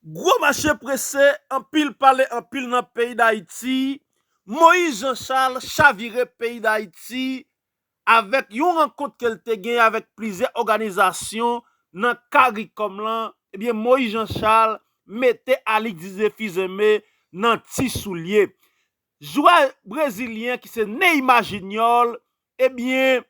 Gwo mache prese, anpil pale anpil nan peyi Dayiti, Moïse Jean Charles chavire peyi Dayiti avèk yon rankont ke l te genyen avèk plizyè òganizasyon nan caricom lan, ebyen Moïse Jean Charles mete Alix Didier Fils-Aimé nan ti soulye jwè brezilyen ki se Neymar Junior Ebyen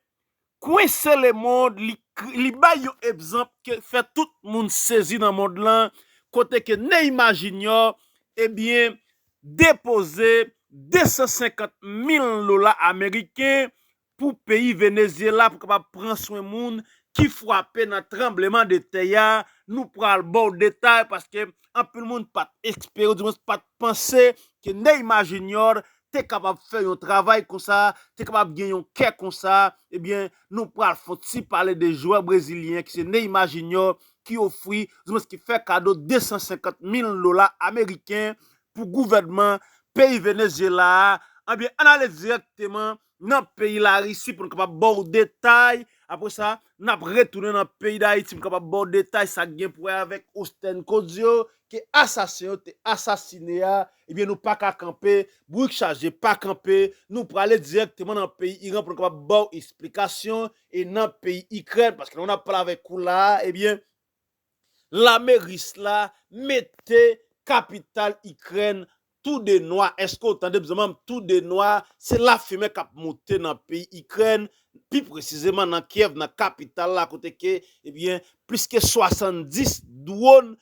kwense le mond li bay yon epzanp ke fè tout moun sezi nan mond lan kote ke Neymar Junior ebyen depoze 250 mil dola ameriken pou peyi Venezyela pou kapab pran swen moun ki fwape nan tranbleman de tè a, nou pral baw detay paske anpil moun pat espere di mwens pat panse ke Neymar Junior te kapab fè yon travay konsa, te kapab gen yon kè konsa, ebyen nou pral fon ti pale de jwè brezilyen an ki se Neymar Junior ki ofri, ouzmwens ki fè kado 250 mil dola ameriken pou gouvènman peyi Venezyela a, anbyen ann ale dirèkteman nan peyi Larisi pou nou kapab ba w detay, apre sa nap retounen nan peyi Dayiti pou nou kapab ba w detay sa k gen pou wè avèk Ostenn Codio ke asasen yo te asasine a, ebyen nou pa ka kanpe, bourik chaje pa kanpe, nou prale dirèkteman nan peyi Iran pou nou kapab ba w esplikasyon, e nan peyi Ikrèn, paske lè w nap pale avèk ou la a, ebyen lame ris la mete kapital Ikrèn Tou de nwa eske ou tande bzanmanm tou de nwa se lafimen kap moute nan peyi ikrèn pi presizeman nan kyèv nan kapital la kote ke ebyen plis ke 70 dwon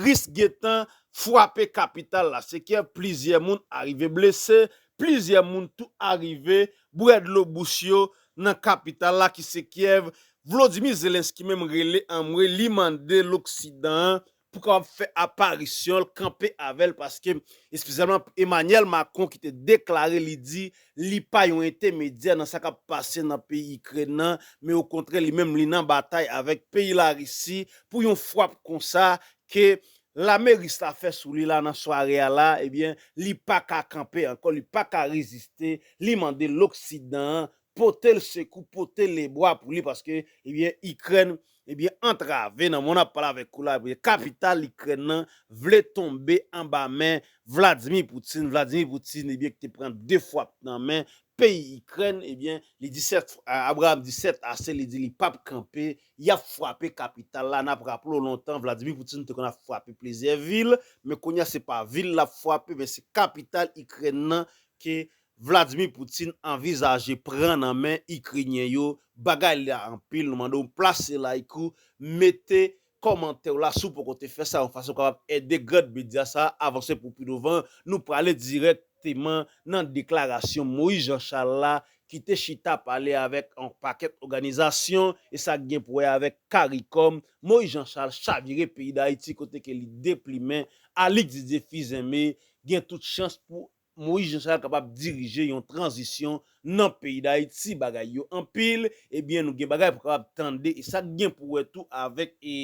ris gentan fwape kapital la se kyèv plizyè moun arive blese plizyè moun tou arive bwè dlo bouch yo nan kapital la ki se kyèv vlodimi zelensky menm rele anmwe li mande loksidan an pou kapab fè aparisyon l, kanpe avè l paske espesyalman pou Emanyèl Makron ki te deklare li di li pa yon entemedyè nan sa k ap pase nan peyi Ikrèn nan men okontrè li menm li nan batay avèk peyi Larisi pou yon fwap konsa ke lame ris la fè sou li la nan sware a la ebyen li pa ka kanpe ankò li pa ka reziste li mande loksidan an potel sekou pote le bwa pou li paske ebyen ikrèn ebyen antrave nan moman nap pale avèk ou la ebyen kapital ikrèn nan vle tonbe anba men Vladimir Poutine Vladimir Poutine ebyen ki te pran 2 fwap nan men peyi ikrèn ebyen li di sèt Abraham di sèt ase li di li pap kanpe yap fwape kapital la nap raple w lontan Vladimir Poutine te konn ap fwape plizyè vil men kounya se pa vil lap fwape men se kapital ikrèn nan ke Vladimir Poutine anvizaje pran nan men Ikrenyen yo bagay la anpil nou mandew plase like ou mete kòmantèw la siw poko te fè sa yon fason kapab ede grand medya sa avanse pou pi douvan nou prale dirèk teman nan deklarasyon Moïse Jean Charles la kite chita pale avèk yon pakèt òganizasyon e sa gen pou wè avèk caricom Moïse Jean Charles chavire peyi dayiti kote ke li deplimen Alix Didier Fils-Aimé gen tout chans pou Moïse Jean Charles kapab dirije yon tranzisyon nan peyi Dayiti bagay yo anpil ebyen nou gen bagay pou kapab tande e sak gen pou wè tou avèk e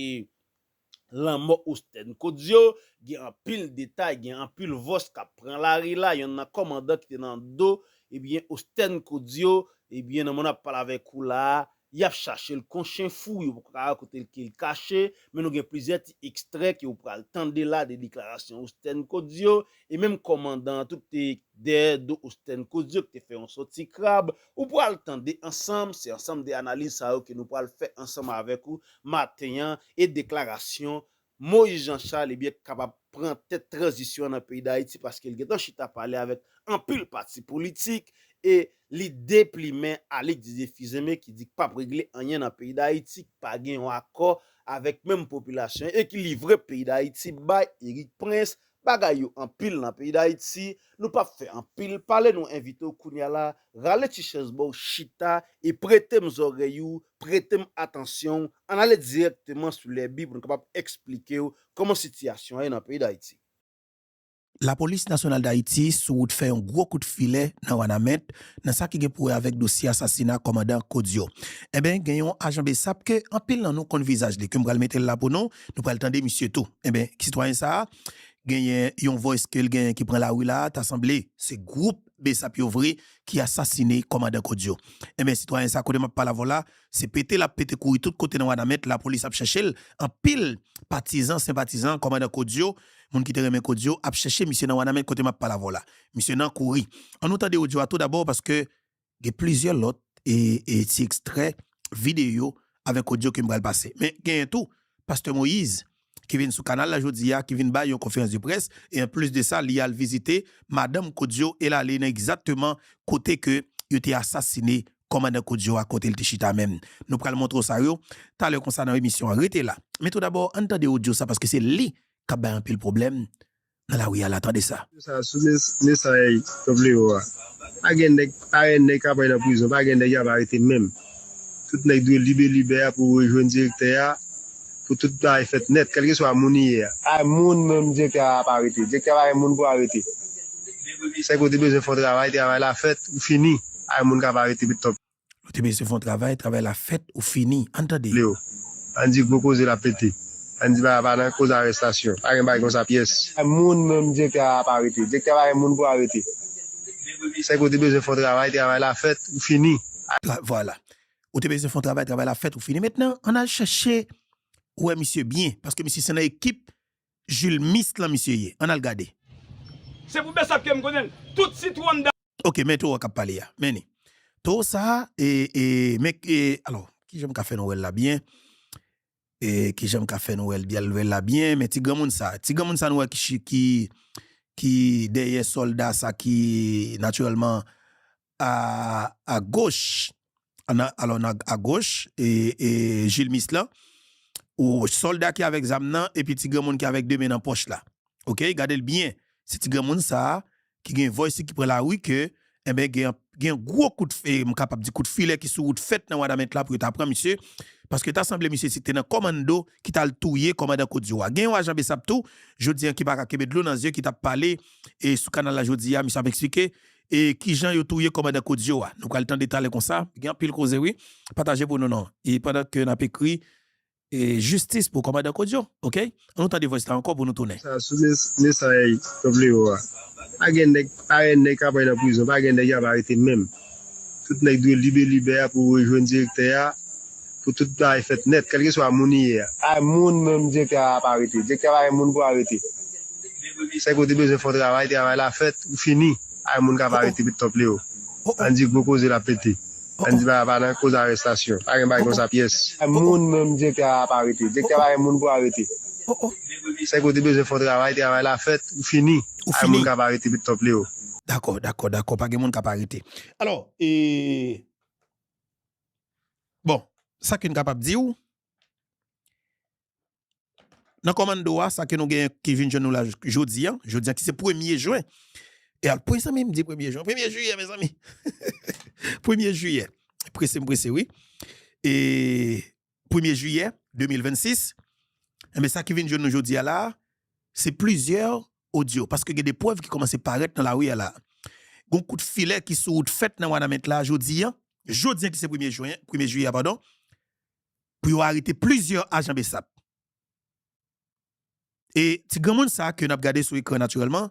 lanmò Ostèn Codio gen anpil detay gen anpil vòs kap pran lari la yonn nan kòmandan ki te nan do ebyen Ostèn Codio ebyen nan moman ap pale avèk ou la Yap chachel kon chen fou yo poko ka wè kotel kel kache men nou gen plizyè ti ekstrè ke ou pral tande la de deklarasyon Osten Codio e menm kòmandan an tout te dèyè do Osten Codio ki te fè yon sòti krab ou pral tande ansanm se ansanm de analiz sa yo ke nou pral fè ansanm avèk ou maten an e deklarasyon Moïse Jean Charles ebyen k kapab pran tèt tranzisyon an nan peyi Dayiti paske l gentan chita pale avèk anpil pati politik e li deplimen Alix Didier Fils-Aimé ki di k pap regle anyen nan peyi Dayiti, k pa gen yon akò avèk menm popilasyon e ki livre peyi Dayiti bay Erik Prince Bagay yo anpil nan peyi dayiti nou pap fè anpil pale nou envite w kounya la rale ti chèz ba w chita e prete m zòrèy ou prete m atansyon w ann ale dirèkteman sou lèbi pou n kapab eksplike w kòman sitiyasyon an ye nan peyi dayiti. Lapolis Nasyonal Dayiti sou wout fè yon gwo kout filè nan Wanament nan sa ki gen pou wè avèk dosye asasina kòmandan Kodio. Enben gen yon ajan bsap ke anpil nan nou konn vizaj li ke m pral mete l la pou nou Nou pral tande misye tou. Enben, sitwayen sa a genyen yon voice ke l genyen ki pran lari la a, ta sanble se gwoup bsap yo vre ki asasine kòmandan Kodio. Enben, sitwayen sa a kote m ap pale avè w la, se pete l ap pete kouri tout kote nan Wanament, lapolis ap chèche l, anpil patizan, senpatizan kòmandan Kodio, moun ki te renmen Kodio ap chèche misye nan Wanament kote m ap pale avè w la. Misye nan kouri. An nou tande odyo a tou dabò paske Gen plizyè lòt ti ekstrè videyo avèk odyo ke m pral pase. Men genyen tou pastè Moïse ki vin sou kanal la jodi a, ki vin bay yon konferans de près e an plis de sa li al vizite madanm Kodio e l ale nan egzakteman kote ke yo te asasine kòmandan Kodio a kote l te chita menm. Nou pral montre w sa yo talè konsa nan emisyon an. Rete la. Men tou dabò ann tande odyo sa paske se li k ap bay anpil pwoblèm nan la wi a la tande sa. Video sa sou mesay Top Leo a. Pa gen nèg parèy nèg kap anyn nan prizon pa gen nèg yap arete menm tout nèg dwe lib e libè a pou rejwenn direktè a pou tout bagay fèt nèt kèlkeswa moun li ye a. Pa gen moun menm direktè a ap arete direktè a pa gen moun pou arete sèke ou te bezwen fon travay travay la fèt ou fini pa gen moun kap arete Top. Nou te bezwen fè yon travay, travay la fèt ou fini. Ann tande. Leo, Ann di gwo koze la pete. Ann di bagay la pa nan koz arestasyon. Pa gen bagay konsa pyès. Moun menm direktè a ap arete. Direktè a pa gen moun pou arete. Sèke ou te bezwen fè yon travay, travay la fèt ou fini. Ann. Vwala. Ou te bezwen fè yon travay, travay la fèt ou fini. Mentnan, ann al chèche wè misye byen. Paske misye se nan ekip julmist lan misye ye an al gade. Se pou bsap kem konnenl tout sitou anndan. Ok men toro kap pale a men li toro sa e e men e alò kijan m ka fè nou wèl la byen e kijan m ka fè nou wèl byen wèl la byen men ti granmoun sa ti granmoun sa nou wè ki ki dèyè solda sa ki naturèlman a goch alò nan a goch e jilmis lan o sòlda ki avèk zam nan epi ti granmoun ki avèk 2 men nan pòch la ok gadel byen se ti granmoun sa ki gen voice ki pran lari ke enben gen yon gwo kout m kapab di kout filè ki sou wout fèt nan wanament la pou yo ta pran misye paske ta sanble misye se te nan kòmando ki tal touye kòmandan kodio a gen yon ajan besap tou jodi an ki paka kenbe dlo nan zye ki tap pale e sou kanal la jodi a misye ap eksplike E kijan yo touye kòmandan Kodio a? Nou pral tande talè konsa. Gen anpil koze wi. Pataje pou nou non. E pandan ke nap ekri Jistis pou kòmandan Kodio ok. An nou tande voice la ankò pou nou tounen. Sa sou mesay Top Leo a. Pa gen nèg parèy nèg kap ray nan prizon. Pa gen nèg yap arete menm. Tout nèg dwe lib e libè a pou rejwenn direktè a pou tout bagay fèt nèt kèlkeswa moun li ye a. Ay moun menm direktè a ap arete direktè pa gen moun pou arete sèke ou te bezwen fon travay travay la fèt ou fini ay moun kap arete met top leo an di gwo koze lap pete an di bagay pa nan koz arestasyon pa gen bagay konsa pyès ay moun menm direktè a ap arete direktè pa gen moun pou arete sèke ou te bezwen fon travay travay la fèt ou fini ay moun kap arete met top leo. Dakò dakò dakò pa gen moun kap arete alò ee. Bon, sa ke n kapab di w, nan kòmanndo a, sa ke nou gen ki vin jwenn nou la jodi an, jodi an ki se premye jwen, e al pwen sa menm di premye jwen, premye jiyè mezanmi, premye jiyè, prese m prese wi, e premye jiyè 2026, e men sa ki vin jwenn nou jodi a la, se plizyè odyo paske gen de prèv ki kòmanse parèt nan lari a la a. Gon kout filè ki sou wout fèt nan Wanament la a jodi an, jodi an ki se premye jwen, premye jiyè a padon, pou yo arete plizyè ajan bsap. E ti granmoun sa a ke n ap gade sou ekran natirèlman,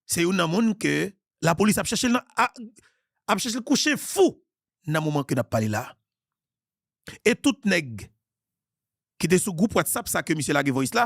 se youn nan moun ke lapolis ap chèche l nan, ap chèche l kou chen fou nan moman ke n ap pale la a. E tout nèg ki te sou gwoup whatsapp sa ke misye lage voice la,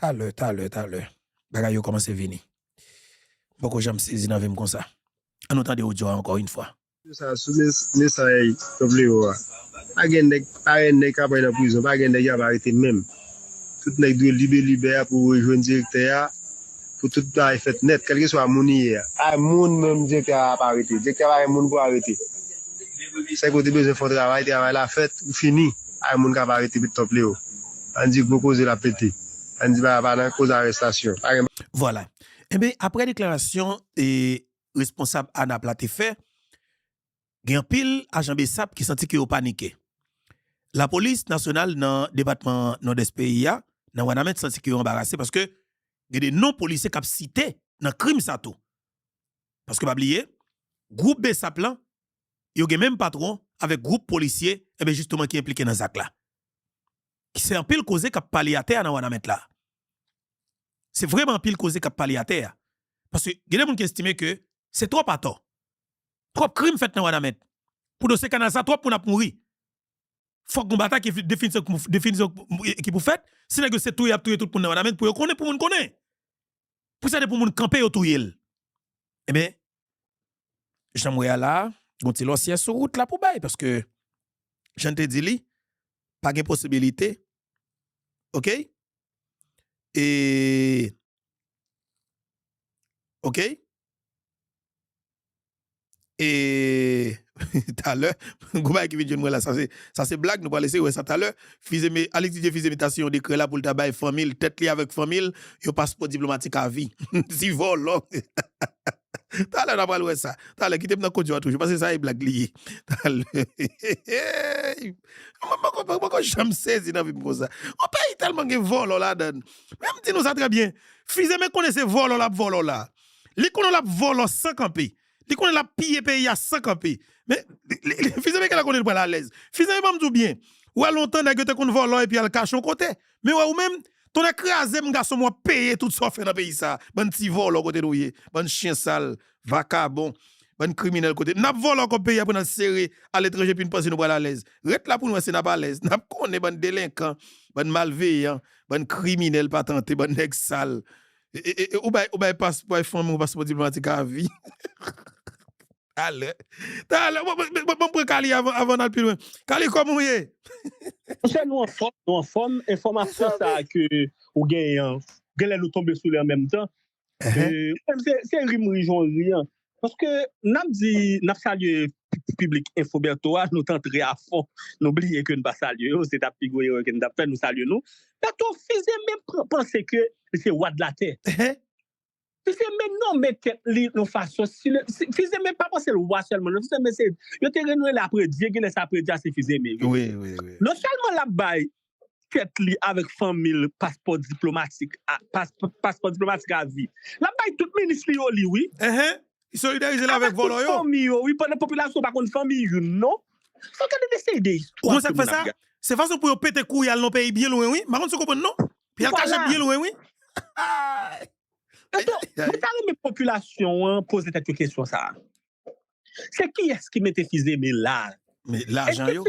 Talè, talè, talè. Bagay yo kòmanse vini. M poko janm sezi nan vi m konsa. An nou tande odyo a ankò yn fwa. Odyo sa sou mesay Top Leo a. Pa gen nèg parèy nèg kap nan prizon pa gen nèg yap arete menm. Tout nèg dwe lib e libè a pou rejwenn direktè a pou tout bagay fèt nèt kèlkeswa moun li ye a. Pa gen moun menm direktè a ap arete. Direktè a pa gen moun pou arete. Sèke ou te bezwen fè yon travay, travay la fèt ou fini. Pa gen moun kap arete Top Leo. Ann di gwo koze la pete. Ann di bagay pa nan koz arestasyon. Pa gen bagay. Vwala. Enben, apre deklarasyon responsab ANAP la te fè, gen anpil ajan bsap ki santi ke yo panike. Lapolis nasyonal nan depatman Nòdès peyi a, nan Wanament santi ke yo anbarase paske gen de non polisye k ap site nan krim sa tou. Paske pa bliye, gwoup bsap lan yo gen menm patwon avèk gwoup polisye enben jisteman ki enplike nan zak la. Ki se anpil koze k ap pale atè a nan Wanament la. Se vreman anpil koze k ap pale atè a. Paske gen de moun ki estime ke se twòp atò. Twòp krim fèt nan Wanament. Pou dosye kanal sa twòp moun ap mouri. Fòk gon batay ki definitivman ki pou fèt. Si nèg yo se touye y ap touye tout moun nan Wanament pou yo konnen pou moun konnen. Pou sa de pou moun kanpe yo touye l. Enben jan m wè a la a, gon ti lòsyè sou wout la pou bay, paske jan n te di li, pa gen posibilite, ok, e, ok, e. Talè, gwo bagay ki vin jwenn mwen la, sa se blag, nou pral eseye wè sa talè. Alix Didier Fils-Aimé ta siyen yon dekrè la pou l ta bay fanmi l, tèt li avèk fanmi l, yon paspò diplomatik a vi. Ti vòlò! Talè n a pral wè sa. Talè, kite m nan kondyon an toujou, paske sa e blag li ye. Talè, eeyy! Mwen poko janm sezi nan vi m konsa. Yon peyi tèlman gen vòlò ladan l. Men m di nou sa trè byen, Fils-Aimé konnen se vòlò l ap vòlò la. Li konnen l ap vòlò san kanpe. Li konnen lap piye peyi a san kanpe. Men, Fils Aimé Gala konnen li pral alèz. Fils Aimé banm di w byen, wè lontan nèg yo te konn vòlò epi al kache yon kote. Men wè ou menm, tonnè kraze m gason m wap peye tout sa w fè nan peyi sa. Bann ti vòlò kote nou ye? Bann chyen sal, vakabon, bann kriminèl kote. Nap vòlò kòb peyi a pou nal sere aletranje epi n panse nou pral alèz. Ret la pou n wè si nap alèz. Nap konnen bann delenkan, bann malveyan, bann kriminèl patante, bann nèg sal. Ou bay ou bay pas bay fanmiw paspò diplomatik a vi. Talè talè banm pran Kaly avan avan nal pi lwen Kaly kòman ou ye. Monchè nou anfòm nou anfòm enfòmasyon sa ke ou genyen an genlè nou tonbe sou li an menm tan ou menm se ri m ri jan w ri an Paske nap di nap salye piblik enfo Bertho a nou t antre a fon nou bliye ke n pa salye yo se tap pi gwo erè ke n tap fè nou salye nou Bertho fize men panse ke li se wa de la tè fize men nonmen tèt li yon fason fize men pa panse l wa sèlman non fize men se yo te rele apre Dye genlè se apre Dye a se fize men wi non sèlman lap bay tèt li avèk fanmi l paspò diplomatik paspò diplomatik avi lap bay tout minis li yo li wi ehe li solidarize l avèk vòlò yo fanmi yo wi pandan popilasyon pa konn fanmi youn non fòk gade de seri de istwa ou konn sak fè sa se fason pou yo pete kou yal nan peyi byen lwen wi mpa konn si w konprann non pou yal kache byen lwen wi ayayay mwen ta renmen popilasyon an poze tèt yo kesyon sa. Se kiyès ki mete Fils-Aimé la? Men lajan yo.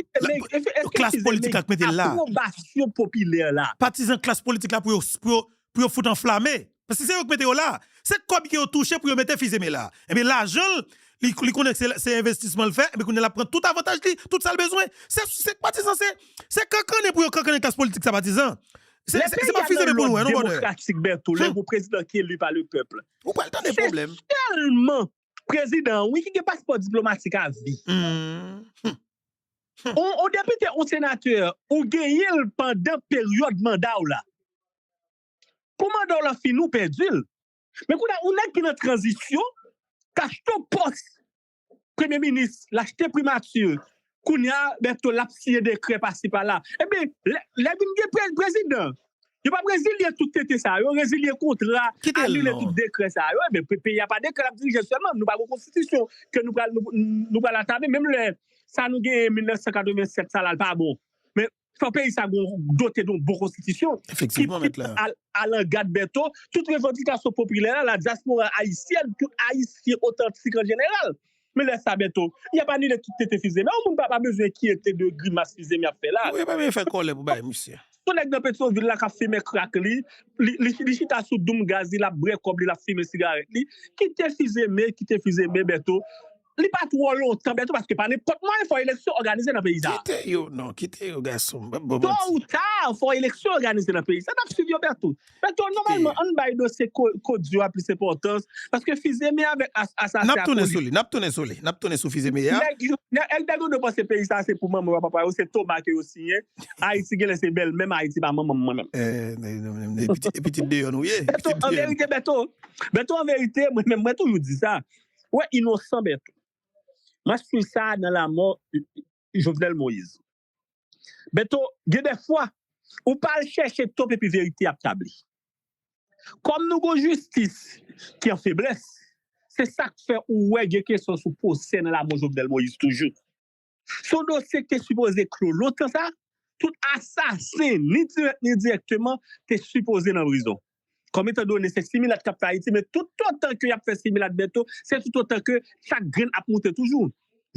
Klas politik la ki mete l la. Apwobasyon popilè la. Patizan klas politik la pou yo pou yo fout anflame. Paske se yo ki mete yo la. Se kòb ke yo touche pou yo mete Fils-Aimé la. Enben lajan l, li konnen ke se se envestisman l fè, enben kounye a l ap pran tout avantaj li, tout sa l bezwen. Se patizan se, se kankannen pou yo kankannen klas politik sa patizan. Se pa Fils-Aimé pou nou wè non bonè. Lè peyi a nan lòd demokratik Bertho, lè yon prezidan ki eli pa le pèp. Ou pral tande pwoblèm. Se sèlman Prezidan an wi ki gen paspò diplomatik a vi. Ou depite ou senatè ou genyenl pandan peryòd mandaw la. Kou mandaw la fini ou pèdil. Men kounye a ou nèg ki nan tranzisyon k achte w pòs premye minis, l achte primati, Kounya Bertho lap siyen dekrè pasi pala ebyen lè vin gen prezidan yo pap rezilye tout tenten sa yo rezilye kontra anile tout dekrè sa yo ebyen peyi a pa dekrè lap dirije sèlman nou pa gen konstitisyon ke nou pral antame menm lè sa nou genyen 1987 sa la li pa bon men Fò peyi sa gon dote don bon konstitisyon ki alangad Bertho tout revandikasyon popilè la dyaspora ayisyèn tout ayisyen otantik an jeneral. Men lè sa Bertho y ap anile tout tete fizeme yon moun pa pa bezwen enkyete de grimas fizeme y ap fè la. Yo pa bezwen fè kòlè pou bay misye. Yon nèg nan Petyonvil la k ap fimen krak li, li chita sou doum gaz li l ap bre kòb li l ap fimen sigarèt li. Kite fizeme, kite fizeme Bertho. Li pa twò lontan bèto paske pa nenpòt mwayen fò eleksyon òganize nan peyi sa. Kite yo non kite yo gasonm pap bon manti. Tò ou ta fò eleksyon òganize nan peyi sa nap swiv yo bèto. Bèto nòmalman ann bay dosye kodio a plis enpòtans paske fizeme avèk asasen a. Nap tounen sou li nap tounen sou li nap tounen sou fizeme a. Nèg bèto dwe panse peyi sa se pou manman yo ak papa yo se toma ke yo siyen ayiti genlè se bèl menm ayiti pa manmanm mwen menm. E pitit deyò nou ye. Bèto anverite bèto bèto anverite mwen menm mwen toujou di sa Wè inosan Bertho. Map swiv sa nan lamò Jovenel Moise. Bertho gen de fwa ou pa al chèche top epi verite ap tabli. Kòm nou gon jistis ki an feblès se sak fè ou wè gen kesyon sou pwosè nan lamò Jovenel Moise toujou. Se yon dosye ki te sipoze klo lontan sa, tout asasen ni dirèk ni endirèkteman te sipoze nan prizon. Kòm etan done se similat k ap fè Ayiti men toutotan ke y ap fè similat Bèto se toutotan ke chak grenn ap moute toujou.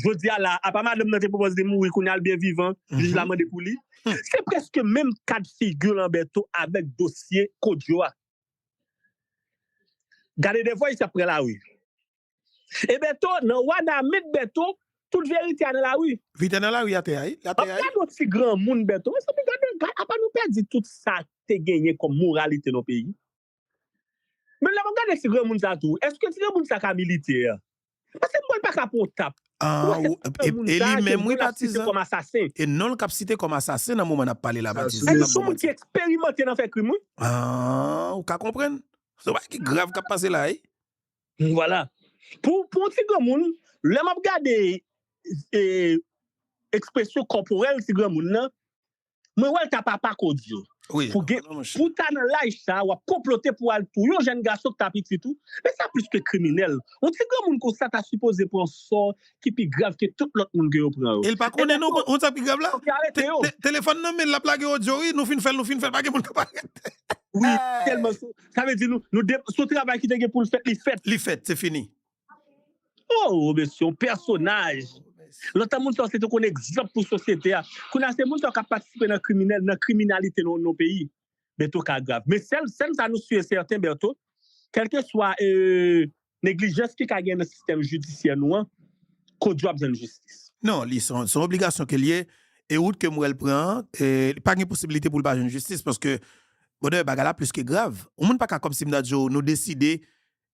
Jodi a la a, apa madanm nan te pwopòze li mouri kounye a li byen vivan, jij la mande pou li. Se prèske menm kad figi lan Bèto avèk dosye Kodjo a. Gade de vwa ayisyen ap pran lari. E Bertho nan wanament Bertho tout verite a nan la rue. Vite nan la rue atè a wi atè a wi. An gad yon ti granmoun Bertho mezanmi gade apa nou pèdi tout sa te genyen kòm moralite nan peyi men lè map gade ti granmoun sa tou eske ti granmoun sa ka militè paske m wèl paka pran yon tap ou wè se ti granmoun sa ke non l ap site kòm asasen e non l kap site kòm asasen nan moman nap pale la patizan e li son moun ki eksperimante nan fè krim wi ou ka konprann se yon bagay ki grav kap pase la wi. Vwala. Pou yon ti granmoun, lè m ap gade ekspresyon kòporèl ti granmoun nan, mwen wè l ta papa Codio. Pou ta nan laj sa a, w ap konplote pou al touye yon jèn gason ki ta pitit ou, men sa plis ke kriminèl. Yon ti granmoun konsa ta sipoze pran sò ki pi grav ke tout lòt moun ke yo pran yo. E l pa konnen non, ou konn sa k pi grav la? Telefòn nan men l, l ap lage odyo wi, nou fin fè l, nou fin fè l, pa gen moun k ap arete. Wi, tèlman Sa vle di nou, nou dep, si yon travay ki te gen pou l fèt, li fèt. Li fèt, se fini. Ooh mesye yon pèsonaj. Lontan moun sa yo se te konn egzanp pou sosyete a. Kounye a se moun sa yo k ap patisipe nan kriminèl, nan kriminalite nan yon peyi. Bertho Cagrave. Men sèl, sèl sa nou su e sèten Bertho, kèlkeswa e. Neglijans ki ka gen nan sistèm jidisyè nou an koz yo ap jwenn jistis. Non, li se yon obligasyon ke l ye e wout ke m wè l pran an, li pa gen posibilite pou l pa jwenn jistis paske brother bagay la plis ke grav. Yon moun pa ka kòmsi m ta di w nou deside,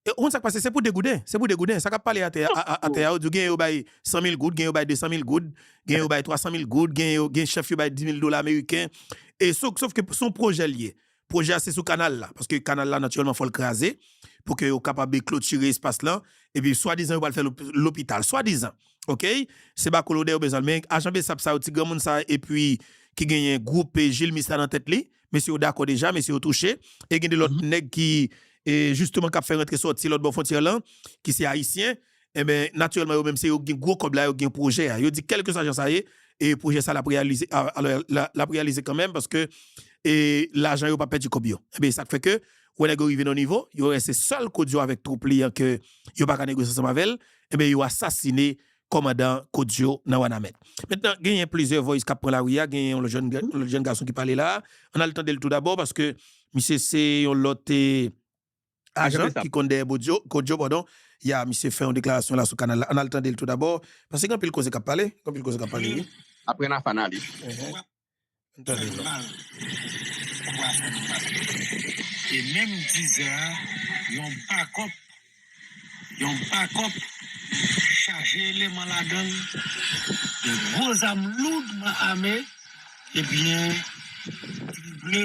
e ou konn sa k pase se pou degouden, se pou degouden sa k ap pale atè atè a yo di w genyen yo bay 100 mil goud, genyen yo bay 200 mil goud, genyen yo bay 300 mil goud, genyen yo gen chèf yo bay 10 mil dola meriken e sof ke se yon pwojè l ye. Pwojè a se sou kanal la, paske kanal la natirèlman fò l kraze pou ke yo kapab klotire espas lan, epi swadizan yo pral fè lopital, swadizan ok, se ba kolonè yo bezwen l, men ajan bsap sa yo, ti granmoun sa epi ki genyen gwoup jilmis la nan tèt li, mesye yo dakò deja, mesye yo touche, e gen de lòt nèg ki jisteman k ap fè rantre sòti lòtbò fwontyè lan, ki se ayisyen, Enben, natirèlman yo menm se yo ki gen gwo kòb la, yo ki gen pwojè a. Yo di kèlkeswa jan sa ye, pwojè sa l ap reyalize. Alò, l ap reyalize kanmenm paske lajan yo pa pèdi kòb yo. Enben, e sa k fè ke wè nèg yo rive nan yon nivo, yo wè se sèl Kodio avèk twoup li an ke yo pa ka negosye ansanm avè l, enben yo asasine kòmandan Kodio nan Wanament. Mentnan, genyen plizyè vòys k ap pran lari a, genyen yon lòt jèn gason ki pale la a. Ann al tande l toudabò paske misye se yon lòt. Ajan ki konn dèyè bodyo, kodyo pardon, ya misye fè yon deklarasyon la sou kanal la. Ann al tande l tou dabò, paske gen anpil koze k ap pale, gen anpil koze k ap pale wi. Apre n a fana li. Ann tande l la. E menm dizè a, yon bakòp, yon bakòp chaje eleman ladan l, de gwo zam loudman ame, ebyen, trible.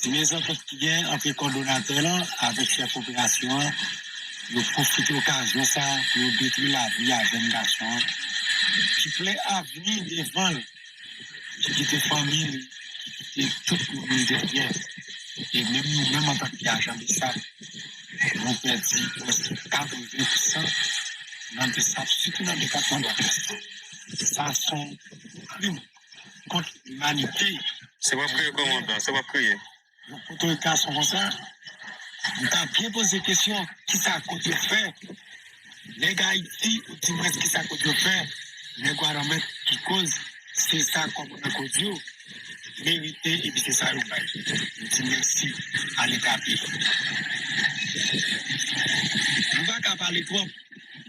Se byen sa fòs ki gen antre kòdonatè lan avèk chèf operasyon an, yo pwofite okazyon sa pou yo detwi lavi a jèn gason an ki plen avni devan l, ki kite fanmi l, ki kite tout moun li te fye. E menm nou menm antan ke ajan Bsap, nou pèdi prèske 80 pousan nan Bsap sitou nan depatman Nòdwès. Sa son krim. kont limanite. Se wap kriye kòm yon blan, se wap kriye. Yon foto gason konsa, li ta byen poze kesyon, kisa kot yo fè? Nèg Ayiti, ou di mwen kisa kot yo fè? Nèg Wanament ki koz se sa kòb nan kot yo merite epi se sa yo bay. Nou di mèsi a leta peyi. Nou pa ka pale twòp.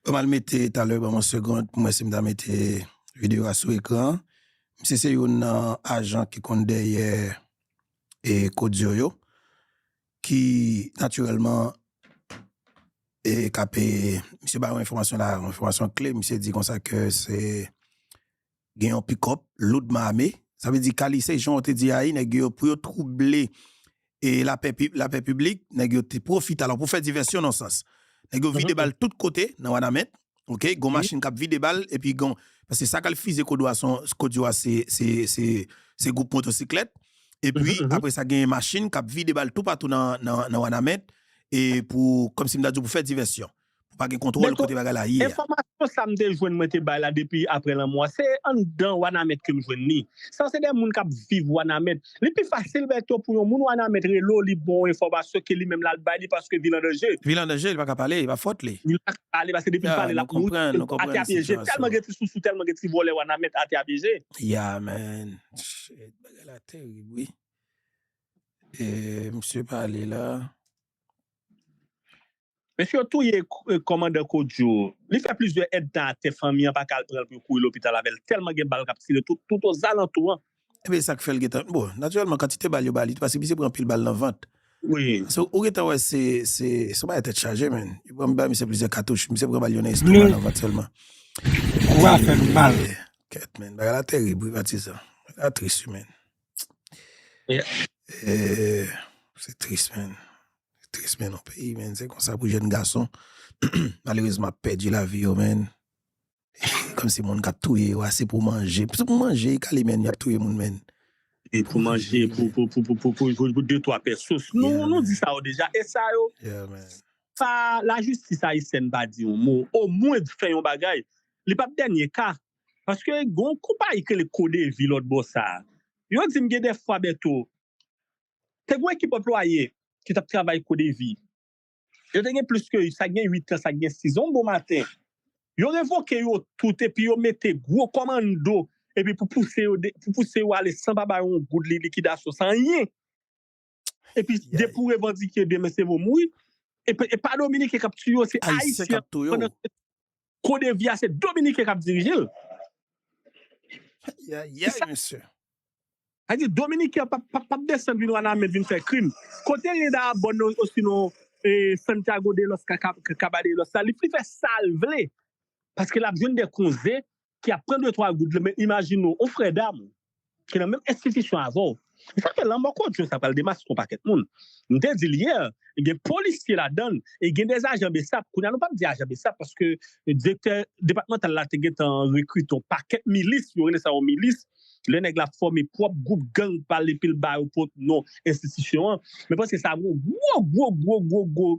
Banm al mete talè banm yon segond poum wè sim ta mete video a sou ekran an. Misye se youn nan ajan ki konn dèyè e Kodio yo ki natirèlman e kap e misye bay yon enfòmasyon la yon enfòmasyon kle misye di konsa ke se Gen yon pikòp loudman ame, sa vle di kalise jan w te di a wi nèg yo pou yo twouble lapè piblik, nèg yo te pwofite alò pou fè divèsyon nan sans nèg yo vide bal tout kote nan Wanament ok gon machin kap vide bal epi gon paske sa k al fize Kodwa son Kodwa se gwoup motosiklèt epi apre sa gen machin kap vide bal toupatou nan Wanament e pou kòmsi m ta di w pou fè divèsyon. Pou pa gen kontwòl kote bagay la ye a. Enfòmasyon sa m te jwenn mwen te bay la depi aprè lanmò a, se anndan Wanament ke m jwenn li. Sa yo se de moun k ap viv Wanament. Li pi fasil Bertho pou yon moun Wanament rele w li bon w enfòmasyon ke li menm l al bay li paske vil an danje. Vil an danje, li pa ka pale, e pa fòt li. Li pa ka pale paske depi l pale l ap mouri. Ya, nou konprann, nou konprann sitiyasyon. Atè a pyeje l, tèlman gen ti sousou, tèlman gen ti vòlè Wanament, atè a pyeje l. Ya man, shit, bagay la terib wi. E misye pale la. Mesye yo touye komandan Kodjo li fè plizyè èdtan atè fanmi an paka al pranl pou yo kouri lopital avèl tèlman gen bal kap tire tout ozalantou an. Ebyen esak fèl gentan bon natirèlman kantite bal yo ba li paske misye pran anpil bal nan vant paske ou gentan wè se se son bagay tèt chaje menn yo pran bay misye plizyè katouch misye pran bal yo nan estoma nan vant sèlman kou a fèm mal kèt menn bagay la terib wi patizan bagay la tris wi menn eehh se tris menn. Tris men non peyi men se konsa pou jèn gason malerezman ap pèdi lavi yo men kòm si moun kap touye yo a se pou manje se pou manje ekale men yap touye moun men. Se pou manje pou de twa pè sous nou di sa yo deja e sa yo sa la jistis ayisyèn pa di yon mo o mwen di fè yon bagay li pap dènye ka paske gon konpayi ki rele kodevi lòt bò sa yo di m gen de fwa Bertho Te gen yon ekip anplwaye ki t ap travay kou devi. Yo te gen plis ke sa k gen uit an, sa k gen siz an. Yon bon maten, yo revoke yo tout epi yo mete gwo kòmando epi pou pouse yo pou pouse yo ale san pa ba yo yon goud li likidasyon, san anyen. Epi depi ou revandike demen se vo mouri. E pa Dominiken k ap tiye yo, se Ayisyen. Ayisyen k ap touye w. Kodevi a se dominiken kap dirije l. Ayayay mesye. Sa di dominiken an pap desann vin wanament vin fè krim. Kote Rinda Abon osinon Santiago de los Caballeros la li fè sal vle paske lap jwenn de konze ki ap pran de twa goud lan men imajine w yon frè dam ki nan menm enstitisyon avè w ou fè ke lanmò kodyo sa pral demaske yon pakèt moun m te di l yè gen polisye ladan l e gen de ajan bsap kounye a nou pap di ajan bsap paske direktè depatmantal la te gentan rekrite yon pakèt milis yo rele sa yo milis lè nèg la fòme pwòp gwoup gang pa l epi l ba yo pwòp non enstitisyon an men paske sa gwo gwo gwo gwo gwo gwo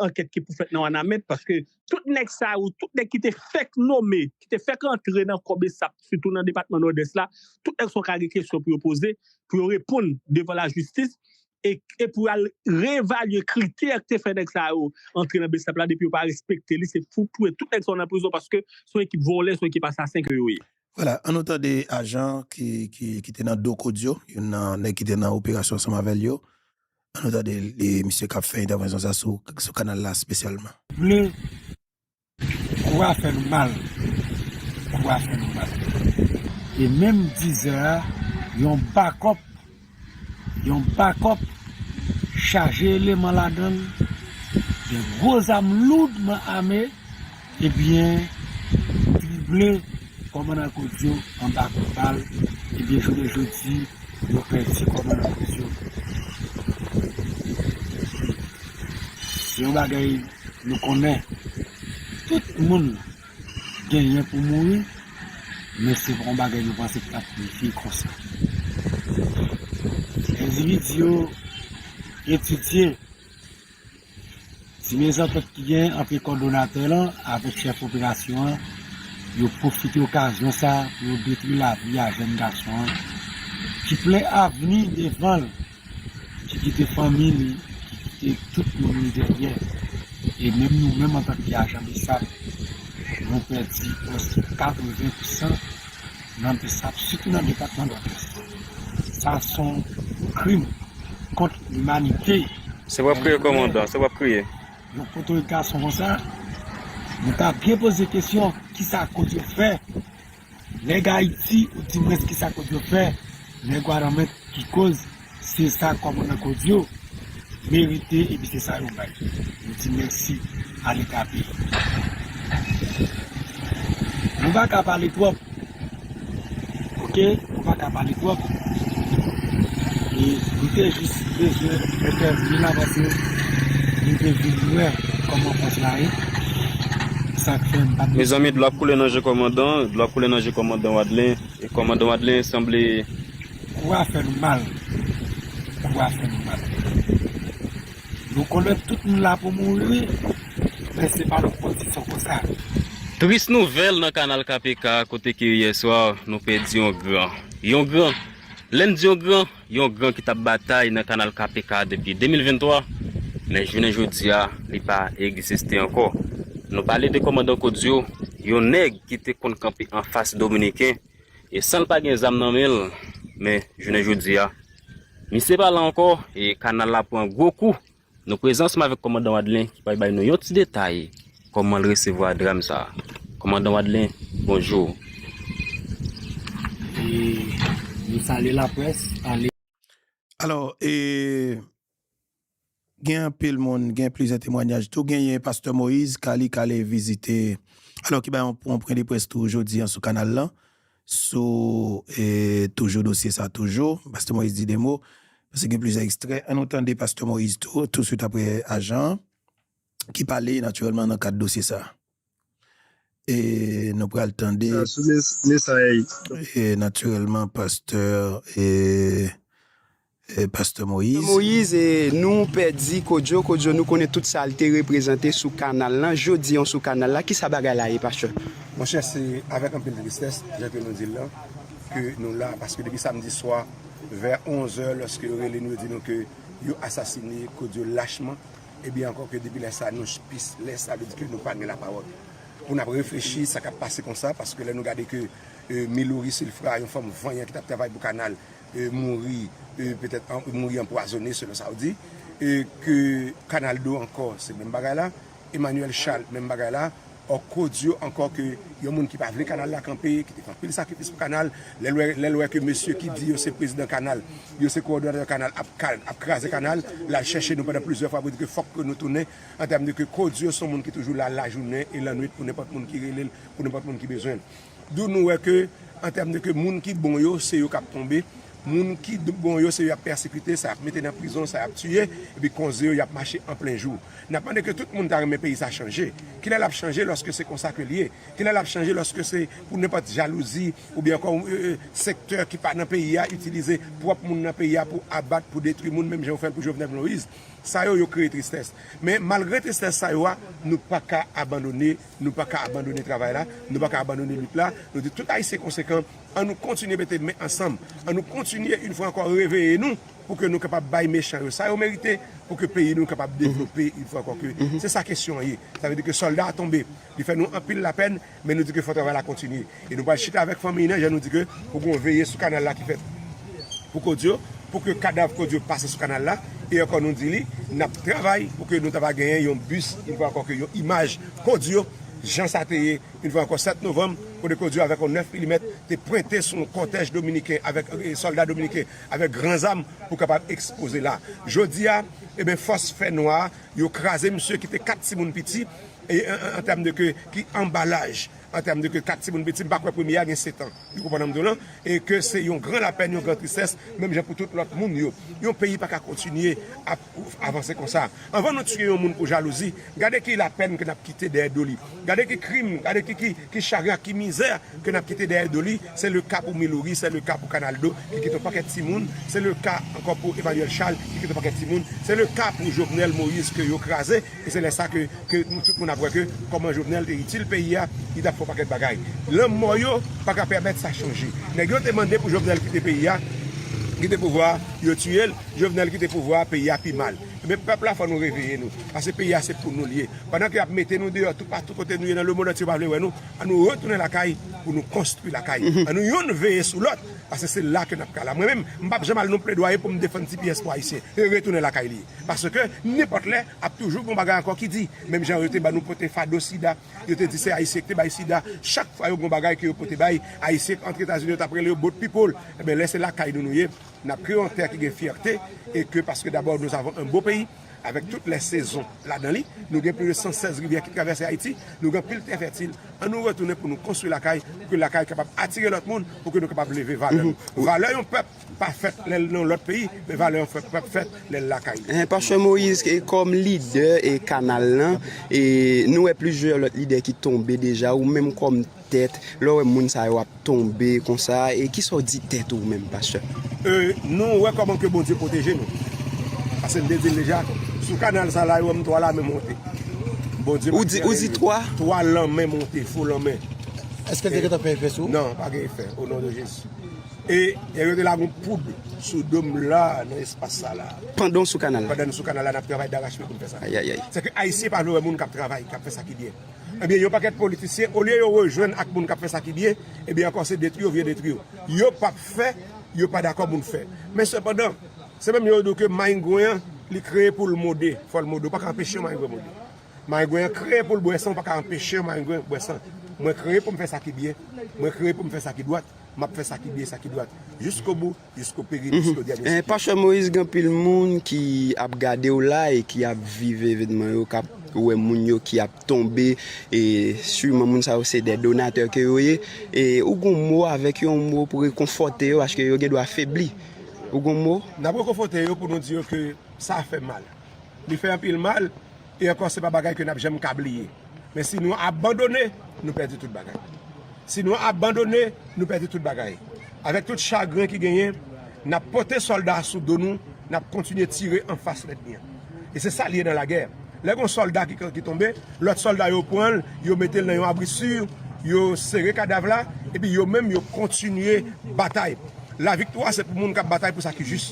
ankèt ki pou fèt nan wanament paske Tout nèg sa yo, tout nèg ki te fèk nome, ki te fèk antre nan kò bsap, sitou nan depatman Nòdès la, tout nèg sa yo ka gen kesyon pou yo poze, pou yo reponn devan lajistis, e pou yo al reevalye kritè ki te fè nèg sa yo antre nan bsap la, depi yo pa respekte li, se pou touye tout nèg sa yo nan prizon, paske se yon ekip vòlè, se yon ekip asasen ke yo ye. Vwala, an nou tande ajan ki te nan do kod yo, youn nan nèg ki te nan operasyon ansanm avè l yo, An nou tande misye kap fè entèvanzyon sa sou kanal la spesyalman. Vle kou a fè nou mal kou a fè nou mal e menm dizè a yon bakòp yon bakòp chaje eleman ladann gen gwo zam loudman ame Ebyen li vle kòmandan Kodio anba kout bal ebyen jounen jodi yo pèdi kòmandan Kodio wi se yon bagay nou konnen tout moun genyen pou mouri men se pa yon bagay nou panse ki tap rive konsa endividi yo etidye Ti mezantant ki genyen ant kòdonatè lan avèk chèf operasyon an, yo pwofite okazyon sa a pou yo detwi lavi a jèn gason an ki plen avni devan l, ki kite fanmi li, ki kite tout moun li dèyè. E menm nou menm antanke ajan bsap, nou pèdi prèske 80 pou san. nan Bsap sitou nan depatman Nòdès. Sa son krim kont limanite. Se wap kriye komandan, se wap kriye. Yon foto yon gason konsa, nou ta byen poze kesyon kisa kod yo fè nèg Ayiti ou dimwens kisa kod yo fè nèg Wanament ki koz Se sa kòmandan kod yo merite epi se sa yo bay. Nou di mèsi a leta peyi nou. Nou pa ka pale twòp ok nou pa ka pale twòp e nou te jis bezwen entèvni la paske nou te vin wè kòman fòs la ye sak fè m pat Mezanmi dlo ap koule nan je kòmandan dlo ap koule nan je kòmandan Wadlin kòmandan Wadlin sanble. Kou a fè nou mal Kou a fè nou mal Nou konnen tout moun la pou mouri wi Men se pa nan kondisyon konsa. Tris nouvèl nan kanal KPK kote ke yè swa nou pèdi yon gran, yon gran, lè n di yon gran, yon gran ki t ap batay nan kanal KPK depi 2023 men jounen jodi a li pa egziste ankò. Nou pale de kòmandan Kodio, yon nèg ki te konn kanpe anfas dominiken, E san l pa gen zam nan men l, men jounen jodi a, misye pa la ankò e kanal la pran gwo kou. Nan prezans m avèk kòmandan Wadlin ki pral bay nou yon ti detay kòman l resevwa dram sa. Kòmandan Wadlin, bonjou. E, nou salye laprès, ale. Alò, e, Gen anpil moun, gen plizyè temwanyaj tou. Genyen Pastè Moïse Kali k ale vizite, alò ki bay yon pwen de près tou jodi an sou kanal lan, sou toujou dosye sa toujou. Pastè Moïse di 2 mo, pase gen plizyè ekstrè. An nou tande Pastè Moïse tou, tousuit aprè ajan an, ki pale natirèlman nan kad dosye sa. E nou pral tande natirèlman pastè pastè Moïse e nou pèdi Kodjo, Kodjo nou konnen tout sa li te reprezante sou kanal lan, jodi an sou kanal la kisa bagay la ye pastè? Monchè se avèk anpil tristès jan ke nou di l lan ke nou la paske depi samdi swa vè 11 è lòske yo rele nou yo di nou ke yo asasine Kodjo lachman E byen ankò ke depi lè sa nou chpis lè sa vle di ke nou pa gen lapawòl pou n ap reflechi sa k ap pase konsa paske lè nou gade ke Miloury Silfra yon fanm vanyan ki t ap travay pou kanal mouri petèt mouri anpwazone selon sa w di ke Kanal do ankò se menm bagay la Emmanuel Charles menm bagay la Or ko di yo ankò ke yon moun ki pa vle kanal la kanpe, ki te fè anpil sakrifis pou kanal, lè l wè ke mesye ki di yo se prezidan kanal, yo se kowòdonatè kanal ap kraze kanal, l al chèche nou pandan plizyè fwa pou di ke fòk ke nou tounen, an tèm de ke ko di yo se yon moun ki toujou la lajounen e lannwit pou nenpòt moun ki rele l, pou nenpòt moun ki bezwen l. D'où nou wè ke an tèm de ke moun ki bon yo se yo k'ap tonbe, moun ki bon yo se yo y'ap pèsekite, sa y'ap mete nan prizon, sa y'ap tiye, epi konze yo y'ap mache an plen jou. N'ap mande ke tout moun ta renmen peyi sa chanje. Kilè l'ap chanje lòske se konsa ke l'ye? Kilè l'ap chanje lòske se pou nenpòt jalouzi oubyen ankò yon sektè ki pa nan peyi a itilize pwòp moun nan peyi a pou abat, pou detwi moun menm jan yo fè'l pou Jovenel Moise? Sa yo, yo kreye tristès. Men malgre tristès sa yo a, nou paka abandone. Nou pa ka abandone travay la, nou pa ka abandone lit la. Nou di tout Ayisyen konsekan, an nou kontinye mete men ansanm, an nou kontinye in fwa ankò reveye nou pou ke nou kapab bay mechan yo sa yo merite, pou ke peyi nou kapab devlope in fwa ankò ke se sa kesyon an ye. Sa vle di ke sòlda a tonbe, li fè nou anpil lapèn, men nou di ke fò travay la kontinye. E nou pral chita avèk fanmiy nan jan nou di ke pou gen yon veye sou kanal la ki fèt pou kod yo, pou ke kadav kod yo pase sou kanal la. E ankò nou di li, nap travay pou ke nou ta va genyen yon bis yon fwa ankò ke yon imaj kod yo jan sa te ye yon fwa ankò 7 novanm kote kod yo avèk yon 9 milimèt te pwente sou yon kòtèj dominiken avèk sòlda dominiken avèk gran zam pou kapab ekspoze la. Jodi a, eben fòs fè nwa yo kraze misye ki te 4 timoun piti e an tèm de ke ki anba laj. an tèm de ke 4 timoun piti, m pa kwè premye a gen 7 an, nou konprann sa m di w lan, e ke se yon gran lapèn, yon gran tristès, menm jan pou tout lòt moun yo. Yon peyi pa ka kontinye ap avanse konsa. Anvan nou tiye yon moun pou jalouzi, gade ki lapèn ke n ap kite dèyè do li, gade ki krim, gade ki chagren ak ki mizè ke n ap kite dèyè do li, se le ka pou Miloury, se le ka pou Canaldo ki kite yon pakèt timoun, se le ka ankò pou Emmanuel Charles ki kite yon pakèt timoun, se le ka pou Jovenel Moïse ke yo kraze. E se lè sa ke tout moun ap wè ke kòman Jovenel te itil peyi a, li tap fè yon pakèt bagay. Lanmò yo pa ka pèmèt sa chanje. Nèg yo te mande pou Jovenel kite peyi a, kite pouvwa a, yo tiye l, Jovenel kite pouvwa a, peyi a pi mal. Ebyen pèp la fò nou reveye nou, pase peyi a se pou nou li ye. Pandan ke yap mete nou deyò toupatou kote nou ye nan lemond antye yo pa vle wè nou, an nou retounen lakay pou nou konstwi lakay. An nou youn veye sou lòt, pase se la ke nap ka la. Mwen menm, m pap janm al nan pledwaye pou m defann ti pyès pou Ayisyen. Se retounen lakay li ye. Paske nenpòt lè ap toujou gon bagay ankò ki di. Menm jan yo te ban nou pote fado sida, yo te di se Ayisyen ki te bay sida. Chak fwa yo gon bagay ke yo pote bay Ayisyen k antre Etazini yo t ap rele yo boat people. Enben lè se lakay nou nou ye, n ap ke yon tè ki gen fyète e ke paske dabò nous avons un beau pays avèk tout lè sezon ladan li. Nou gen plis de 116 rivyè ki travèse Ayiti. Nou gen anpil tè fètil. An nou retounen pou nou konstwi lakay pou ke lakay kapab atire lòt moun pou ke nou kapab leve valè nou. Valè yon pèp Pa fèt lè l nan lòt peyi, men valè an pap fèt lè l lakay li. Pastè Moïse kòm lidè kanal lan, nou wè plizyè lòt lidè ki tonbe deja, ou menm kòm tèt, lè w wè moun sa yo ap tonbe konsa, kisa w di tèt ou menm pastè? Nou wè kòman ke Bondye pwoteje nou, paske m te di l deja, sou kanal sa la yo wè m 3 lame monte, Bondye pa kite anyen rive m, 3 lame monte, fo lame. Èske l te gentan fè efè sou ou? Non, pa gen efè, o non de Jezi. E yo te lage yon poud sou do m la nan espas sa la. Pandan w sou kanal la. Pandan nou sou kanal la, n ap travay darachpye pou n fè sa. Ayayay. Se ke Ayisyen pa vle wè moun k ap travay, k ap fè sa ki byen. Ebyen, yon pakèt politisyen, olye yo rejwenn ak moun k ap fè sa ki byen, ebyen ankò se detwi yo vle detwi yo. Yo p ap fè, yo pa dakò moun fè. Men sepandan, se menm yo yo di w ke mayingwen an, li kreye pou l mode, fò l mode. Ou pa ka anpeche yon mayingwen mode. Mayingwen an kreye pou l bwè san, ou pa ka anpeche yon mayingwen bwè san. Mwen kreye pou m fè sa ki byen. Mwen kreye pou m fè sa ki dwat. M ap fè sa ki byen, sa ki dwat, jiskobou, jiskoperi, jiskodyènye sik yo. Pastè Moïse gen anpil moun ki ap gadew la e ki ap viv evenman yo kap wè moun yo ki ap tonbe e siman moun sa yo se dè donatè ke yo ye e ou gon mo avèk yo yon mo pou rekonfòte yo paske yo gen dwa febli ou gon mo? Nap rekonfòte yo pou nou di yo ke sa fè mal li fè anpil mal. E ankò se pa bagay ke n ap janm ka bliye. Men si nou abandone, nou pèdi tout bagay. Si nou abandone, nou pèdi tout bagay. Avèk tout chagren ki genyen, n ap pote sòlda a sou do nou, n ap kontinye tire anfas lènmi an. E se sa l ye nan lagè. Lè gen yon sòlda ki tonbe, lòt sòlda yo pran l, yo mete l nan yon abri si, yo sere kadav la, epi yo menm yo kontinye batay. Laviktwa se pou moun k ap batay pou sa ki jis.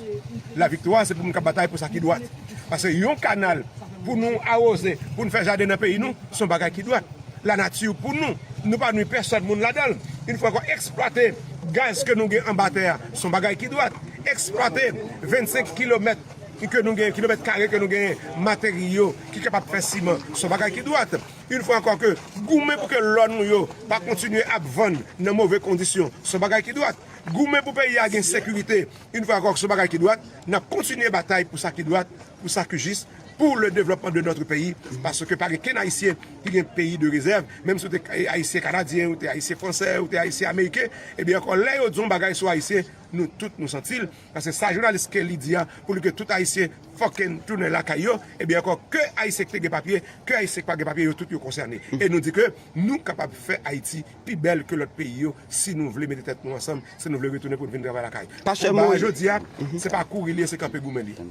Laviktwa se pou moun k ap batay pou sa ki dwat. Paske yon kanal pou nou awoze, pou nou fè jaden nan peyi nou, se yon bagay ki dwat. Lanati pou nou, nou pa nwi pèsòn moun ladan l. Yon fwa ankò, eksplwate gaz ke nou gen anba tè a, se yon bagay ki dwat. Eksplwate 25 kilomèt ke nou gen, kilomèt kare ke nou genyen materyo ki kapab fè siman, se yon bagay ki dwat. Yon fwa ankò ke goumen pou ke lò nou yo pa kontinye ap vann nan move kondisyon, se yon bagay ki dwat. Goumen pou peyi a gen sekirite yn fwa ankò sou bagay ki dwat, nap kontinye batay pou sa ki dwat, pou sa ki jis, pou le devlòpman de notre peyi, paske pa gen kenn ayisyen ki gen peyi de rezèv, menm si w te ayisyen kanadyen, ou te ayisyen fransè, ou te ayisyen ameriken, ebyen ankò lè yo di yon bagay sou ayisyen nou tout nou santi l, paske sa jounalis Kelly di a pou li ke tout ayisyen fucking tounen lakay yo, ebyen ankò ke ayisyen ki te gen papye, ke ayisyen ki pa gen papye yo tout yo konsène, e nou di ke nou kapab fè Ayiti pi bèl ke lòt peyi yo si nou vle mete tèt nou ansanm, si nou vle retounen pou n vin travay lakay. Konba a jodi a, se pa kouri li ye, se kanpe goumen li ye.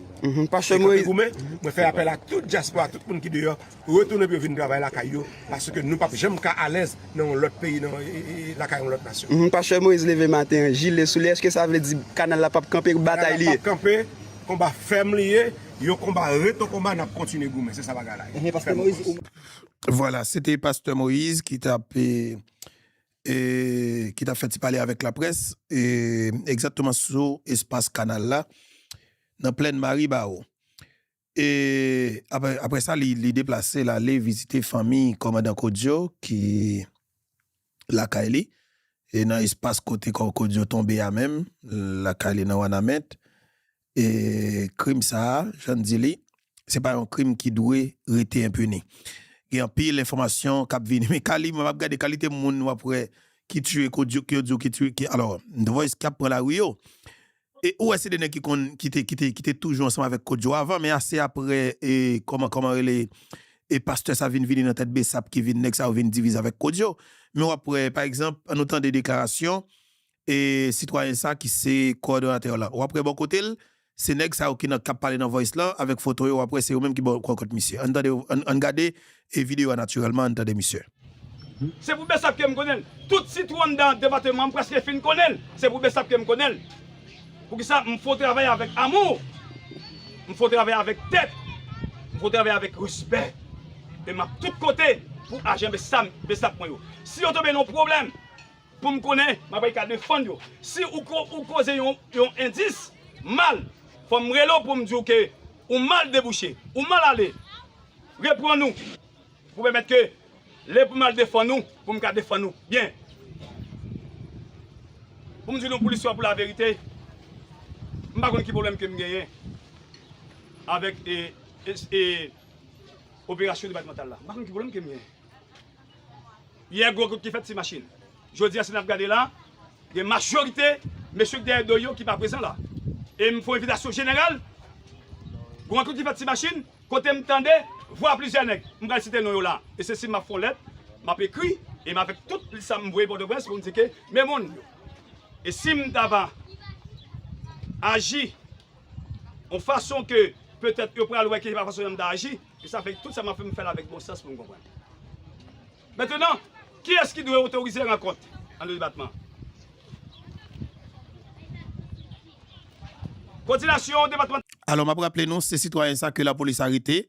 Se kanpe goumen, mwen fè apèl a tout dyaspora, tout moun ki deyò, retounen pou yo vin travay lakay yo, paske nou pap janm ka alèz nan yon lòt peyi, lakay yon lòt nasyon. Pastè Moïse leve maten an, jile sou li, èske sa vle di kanal la pap kanpe, batay li ye? Kanal la pap kanpe, konba fèm li ye, yon konba ret yon konba, n ap kontinye goumen, se sa bagay la ye. Vwala, se te pastè Moïse ki tap fè ti pale avèk laprès, egzatteman sou espas kanal la, nan plèn Maribawo. E aprè sa li deplase l ale vizite fanmi kòmandan Kodio ki lakay li, e nan espas kote Kòkòd yo tonbe a menm, lakay li nan Wanament. E krim sa a, jan n di li, se pa yon krim ki dwe rete enpini. Gen anpil enfòmasyon k ap vini. Men kali, mwen ap gade kalite moun w ap wè ki tiye Koudjouk, yo di w ki tiye, alò, The Voice ki ap pran lari yo. E ou wè se 2 nèg ki konn kite kite kite toujou ansanm avèk Kodjo avan men ase aprè e kòman kòman rele e pastè sa vin vini nan tèt bsap ki vin nèg sa yo vin divize avèk Kodjo men wap wè pa egzanp an nou tande deklarasyon e sitwayen sa ki se kowòdonatè la wap wè bò kotel se nèg sa yo ki nan kap pale nan voice lan avèk foto yo wap wè se yo menm ki bò kò kòt misye ann tande ann gade E video a naturelman ann tande misye. Se pou Bsap kem konnenl. Tout sitwon dan depateman m preske fin konnenl. Se pou Bsap kem konnenl. Poukisa m fo travay avek amour. M fo travay avek tèt. M fo travay avek respè. E map tout kote pou ajan Bsap mwen yo. Si yo tonbe nan yon pwoblem pou m konnen m ap reka defann yo. Si ou koze yon endis mal fom rele w pou m di w ke ou mal debouche. Ou mal ale. Reprann ou pou pèmèt ke lè pou m al defann ou pou m ka defann ou byen. Pou m di nou pou listwa pou laverite, m pa konn ki pwoblèm ke m genyen avèk operasyon depatmantal la. M pa konn ki pwoblèm ke m genyen. Yè gwo kout ki fèt ti machin. Jodi a si n ap gade la, gen majorite mesye ki dèyè do yo ki pa prezan la. E m fè yon envitasyon jeneral, gwo kout ki fèt ti machin. Kote m tande vwa plizyè nèg, m pral site non yo la, e se si m ap fè yon lèt, m ap ekri, e m avèk tout plis sa m voye Pòtoprens pou m di ke men moun yo. E si m ta va aji yon fason ke petèt yo pral wè ke se pa fason yon m ta aji, e sa fè tout sa m ap fè m fè l avèk bon sans pou m konprann. Mentenan, kiyès ki dwe otorize rankont ant 2 depatman? Kòdinasyon depatmantal. Alò, m ap raple nou, se sitwayen sa ke lapolis arete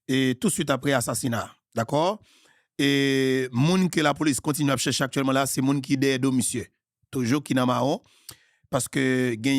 e tou swit apre asasina a. Dakò? E moun ke lapolis kontinye ap chèche aktyèlman la, se moun ki dèyè do misye toujou, ki nan mawon, paske gen.